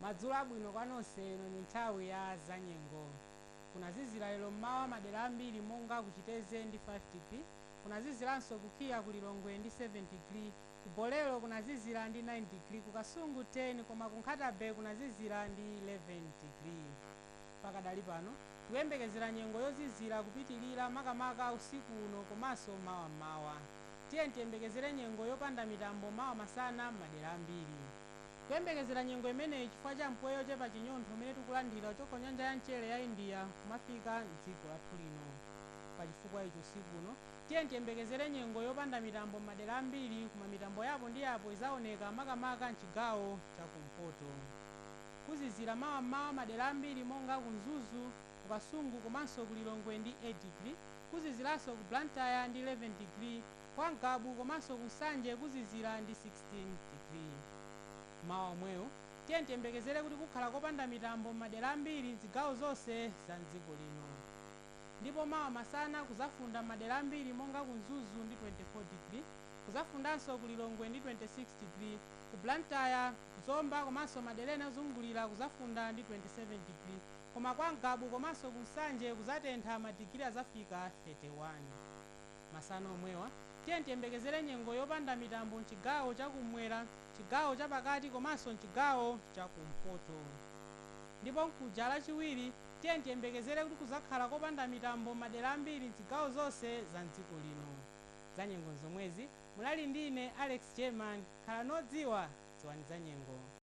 Madzulo abwino kwa nonse ino ndi nthawi ya zanyengo. Kunazizira lero m'mawa madera ambiri monga ku Chitedze ndi 5 digri, kunaziziranso ku KIA ku Lilongwe ndi 7 digri, ku Bolero kunazizira ndi 9 digri, ku Kasungu 10 koma ku Nkhata Bay kunazizira ndi 11 digri. Pakadali pano, tikuyembekezera nyengo yozizira kupitilira makamaka usiku uno komanso mawa m'mawa. Tiyeni tiyembekezere nyengo yopanda mitambo mawa masana m'madera ambiri. Tikuyembekezera nyengo imeneyi chifukwa cha mpweya ochepa chinyontho umene tikulandira kuchoka ku nyanja ya mchere ya India kumafika m'dziko lathu lino. Pa chifukwa ichi usiku uno, tiyeni tiyembekezere nyengo yopanda mitambo m'madera ambiri koma mitambo yapo ndi yapo izaoneka makamaka m'chigawo cha kumpoto. Kuzizira mawa m'mawa madera ambiri monga ku Mzuzu, ku Kasungu komanso ku Lilongwe ndi 8 digiri. Kuziziranso ku Blantyre ndi 11 digiri. Kwa Ngabu komanso ku Nsanje kuzizira ndi 16 digiri. Mawa omwewo tiyeni tiyembekezere kuti kukhala kopanda mitambo m'madera ambiri m'zigawo zonse za m'dziko lino. Ndipo mawa masana kuzafunda m'madera ambiri monga ku Mzuzu ndi 24 digiri. Kuzafundanso ku Lilongwe ndi 26 digiri, ku Blantyre. Zomba komanso madera ena ozungulira kuzafunda ndi 27 digiri koma kwa Ngabu komanso ku Nsanje kuzatentha madigiri azafika 31. Masana omwewa, tiyeni tiyembekezere nyengo yopanda mitambo m'chigawo cha kummwera, m'chigawo cha pakati komanso m'chigawo cha kumpoto ndipo mkuja Lachiwiri tiyeni tiyembekezere kuti kuzakhala kopanda mitambo m'madera ambiri m'zigawo zonse za m'dziko lino. Zanyengo n'zomwezi. Munali ndi ine Alex German, khalani odziwa, dziwani zanyengo.